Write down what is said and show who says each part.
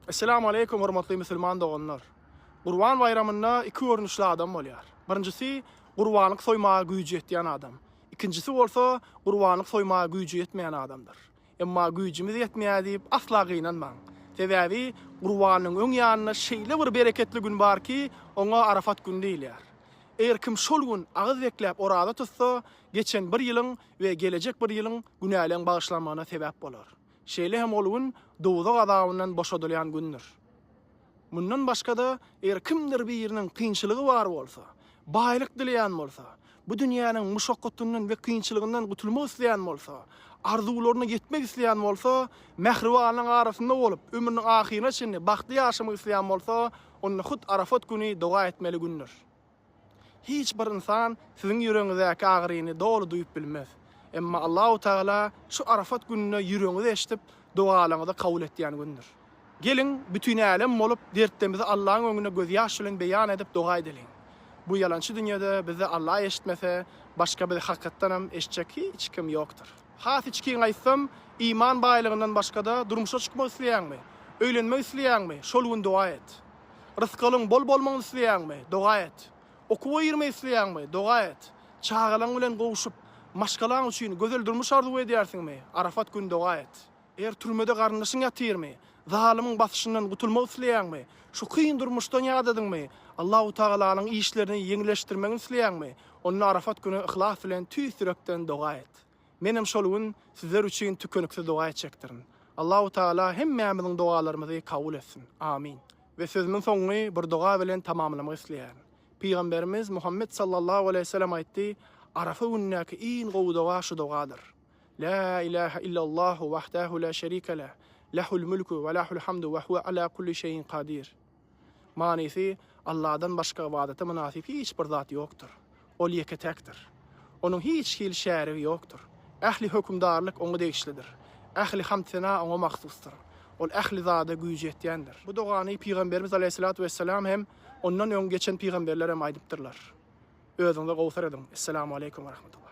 Speaker 1: Esselamu aleýkum hormatly musulman doganlar! Gurban baýramynda iki görnüşli adam bolýar. Birinjisi, gurbanlyk soýmaga güýji ýetýän adam. Ikinjisi bolsa, gurbanlyk soýmaga güýji ýetmeýän adamdyr. Emma güýjümiz ýetmeýär diýip asla gynanmaň. Sebäbi gurbanyň öň ýanynda şeýle bir bereketli gün bar ki, oňa Arafat güni diýilýär. Eger kim şol gün agyz bekläp oraza tutsa, geçen bir ýylyň we gelejek bir ýylyň günäleň bagyşlanmagyna sebäp bolar. Şeýle hem ol gün dowzah azabyndan boşadylýan gündür. Mundan başga-da, eger kimdir biriniň kynçylygy bar bolsa, baýlyk dileýän bolsa, bu dünýäniň muşakgatyndan we kynçylygyndan gutulmak isleýän bolsa, arzuwlaryna ýetmek isleýän bolsa, mähribanlaryň arasynda bolup, ömrüniň ahyryna çenli bagtly ýaşamak isleýän bolsa, onda hut Arafat güni doga etmeli gündür. Hiç bir ynsan siziň ýüregiňizdäki agyryny doly duýup bilmez. Emma Allahu tagala şu Arafat gününe ýüregiňizi eşidip, dogalaňyzy kabul etýän gündür. Geliň, bütin älem bolup, dertdemizi Allaň öňünde gözýaş bilen beýan edip, doga edeliň. Bu ýalançy dünýede bizi Alla eşitmese, başga bizi hakykatdanam eşitjek hiç kim ýokdur. Has içgin aýtsam, iman baýlygyndan başga-da durmuşa çykmak isleýäňmi? Öýlenmek isleýäňmi? Şol gün doga et. Rysgalyň bol bolmagyny isleýäňmi? Doga et. Okuwa girmek isleýäňmi? Doga et. Çagalaň bilen gowşup, maşgalaň üçin gözel durmuş arzuw edýärsiňmi? Arafat gün doga et. Eger türmede garyndaşyň ýatyrmy? Zalymyň basyşyndan gutulmak isleýäňmi? Şu kyn durmuşdan ýadadyňmy? Allahu tagalanyň işlerini ýeňilleşdirmegini isleýäňmi? Onda Arafat güni yhlas bilen tüýs ýürekden doga et. Menem şol gün sizler üçin tükeniksiz doga etjekdirin. Allahu Taala hemmämiziň dogalarymyzy kabul etsin. Amin. We sözümiň soňuny bir doga bilen tamamlamak isleýärin. Pygamberimiz Muhammet sallallahu aleýhi we sellem aýtdy, Arafa günündäki iň gowy doga şu dogadyr. La ilahe illallahu wahdahu la şerike leh, lehul mulku we lehul hamdu we huwe ala kulli şeyin kadir. Manysy, Alladan başga ybadata mynasyp hiç bir zat ýokdur. Ol ýeke-täkdir. Onuň hiç hili şärigi ýokdur. Ähli hökümdarlyk Oňa degişlidir. Ähli hamd-sena Oňa mahsusdyr. Ol ähli zada güýji ýetýändir. Bu dogany Pygamberimiz alaýhyssalatu wessalam hem, ondan öň geçen pygamberler hem aýdypdyrlar. Özüňize gowsar ediň. Essalamu aleýkum we rahmetullah.